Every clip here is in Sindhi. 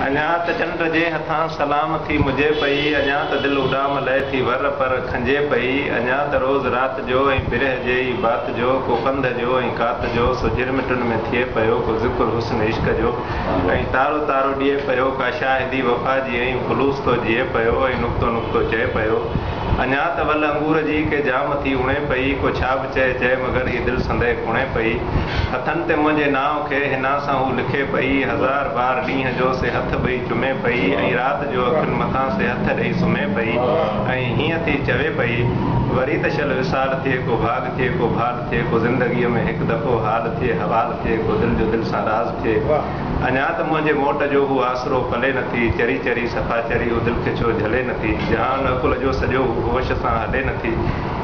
اڃا ته چنڊ جي هٿان سلام ٿي مجهي پئي، اڃا ته دل اڏام لئي ٿي ور پر کنجهي پئي، اڃا ته روز رات جو ۽ برهه جي ئي بات جو، ڪو ڪنڌ جو ۽ ڪات جو، سو جهرمٽن ۾ ٿئي پيو ڪو ذڪر حسن عشق جو، ۽ تارو تارو ڏئي پيو ڪا شاهدي وفا جي، ۽ خلوص ٿو جيئي پيو ۽ نقطو نقطو چئي پيو، اڃا ته ول انگور جي ڪي جام ٿي اڻي پئي، ڪو ڇاڀ چئي چئي مگر هي دل سندئي ڪڻي پئي. هٿن تي منهنجي نانء کي حنا سان هو لکي پئي. هزار بار ڏينهن جو سي هٿ ٻئي چمي پئي ۽ رات جو اکين مٿان سي هٿ ڏئي سمهي پئي ۽ هيئن ٿي چوي پئي، وري ته شل وصال ٿئي ڪو ڀاڳ ٿئي ڪو ڀال ٿئي ڪو زندگيء ۾ هڪ دفعو حال ٿئي حوال ٿئي ڪو دل جو دل سان راز ٿئي. اڃا ته منهنجي موٽ جو هو آسرو پلي نٿي چري چري صفا چري هو دل کي ڇو جهلي نٿي جهان عقل جو سڄو هو هوش سان هلي نٿي.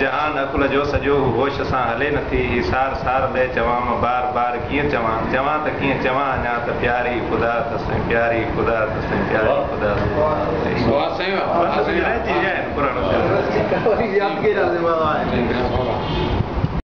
جهان عقل جو سڄو هو هوش سان هلي نٿي هي سار سار لئه چوام بار بار ڪيئن چوان چوان ته ڪيئن چوان اڃا ته پياري خدا ته سائين پياري خدا ته سائين پياري خدا ته سائين